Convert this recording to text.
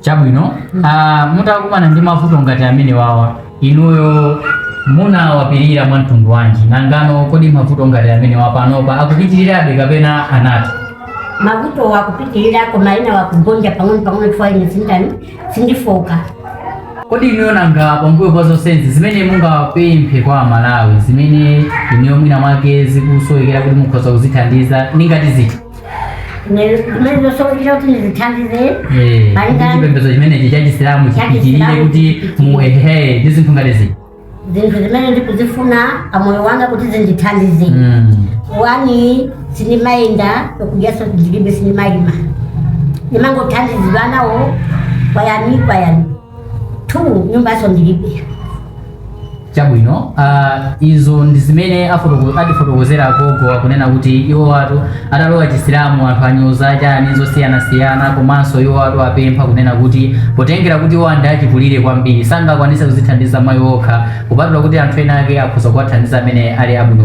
chabwino ah, mutakumana ndi mavuto ngati amenewawa inuyo munawapirira mwa mtundu wanji nangano kodi mavuto ngati amenewa panopa akupitirirabe kapena anatha mavutowa akupitirira koma ena akugonja pang'ono pang'ono chifukwa ine sindani sindifoka kodi inuyo nanga pambuyo pa zonsezi zimene mungapemphe kwa amalawi zimene inuyo mwina mwake zikusowekera kuti mukhoza kuzithandiza ndi ngati ziti zimene zosowekera kuti ndizithandize Eh, Malinga- kuti chipembedzo chimenechi cha chisilamu chipitirire Chachisilamu kuti chipitirire. mu ehe ndi zinthu ngati ziti zinthu zimene ndikuzifuna pamoyo wanga kuti zindithandize wani sindimayenda okujanso ndilibe sindimayima ndimangothandizidwa nawo kwayani kwayani 2 nyumbanso ndilibe chabwino ah, izo ndi zimene afotoko- atifotokozera agogo akunena kuti iwowatu atalowa chisilamu anthu awanyoza chani zosiyanasiyana komanso iwowatu apempha kunena kuti potengera kuti iwowa ndi achikulire kwambiri sangakwanise kuzithandiza mwa iwo okha kupatula kuti anthu ena ake akhoza kuwathandiza amene ali abwino